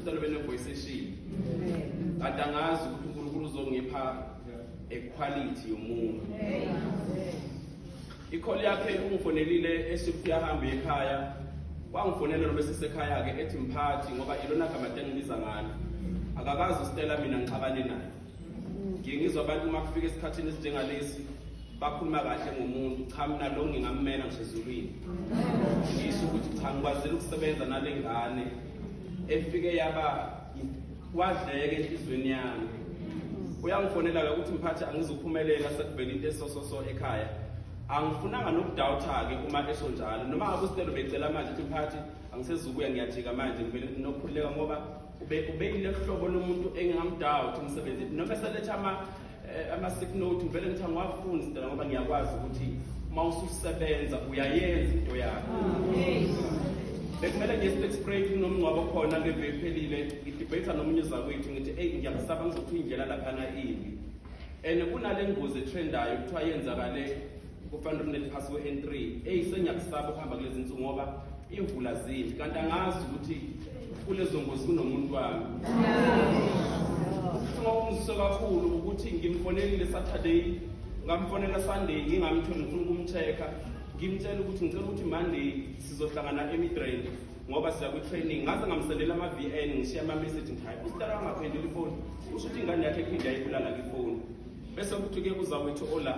Sicela bene voice eshini. Kade angazi ukuthi uNkulunkulu uzongipha equality yomuntu. Ikholi yakhe ungifonelile esuku yahamba ekhaya. Wangifonela noma sisekhaya ke ethi mphathi ngoba ilona gama tengibiza ngalo. Akakazi uStella mina ngixabane naye. ngiye ngizwa abantu uma kufika esikhathini esinjengalesi bakhuluma kahle ngomuntu cha mina lo ngingammela ngisho ezulwini ngisho ukuthi cha ngikwazile ukusebenza nale ngane efike yaba wadleke enhliziyweni yami uyangifonela-ke ukuthi mphathi angizuphumelela sekuvela into esososo ekhaya angifunanga nokudawutha-ke uma esho njalo noma ngabe usinelo becela manje ukuthi mphathi angisezukuya ngiyajika manje ngivele nginokukhululeka ngoba ubengilohlobo lomuntu engingamdawa ukuthi umsebenzi noma eseletha ama eh, ama-sick note ngivele ngithi angiwafundi sidala ngoba ngiyakwazi ukuthi uma ususebenza uyayenza into yakho bekumele ngiye state spray kunomngcwabo khona ngeve ephelile ngidebate nomunye uzakwethu ngithi eyi ngiyakusaba ngizothi uyindlela laphana imbi and kunale ngozi etrendayo kuthiwa yenzakale kufanele umlele phasi we-n three eyi sengiyakusaba ukuhamba kulezi nsuku ngoba iy'mvula zimbi kanti angazi ukuthi kulezo ngozi kunomuntu wami uma umzise kakhulu ukuthi ngimfonelile saturday ngamfonela sunday ngingamtholi ngifuna ukumcheck-a ngimtshela ukuthi ngicela ukuthi monday sizohlangana emidrain ngoba siya kwi-training ngaze ngamsendela ama-v n ngishiya ama-message ngithi hayi usitara angaphendula ifoni usho ukuthi ingane yakhe ephinde yayibulala kwifoni bese kuthi-ke uzawethu ola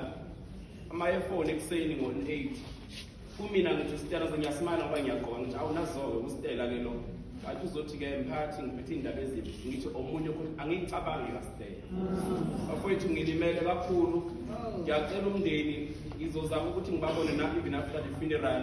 amayefoni ekuseni ngo-8 kumina ngithi sitela sengiyasimana ngoba ngiyagqoka ngithi awunazoke kusitela ke lo ngathi uzothi-ke mphathi ngiphethe iy'ndaba ezimbi ngithi omunye ukuthi angiyicabangi kasitela bafowethu ngilimele kakhulu ngiyacela umndeni ngizozama ukuthi ngibabone na-even after the funeral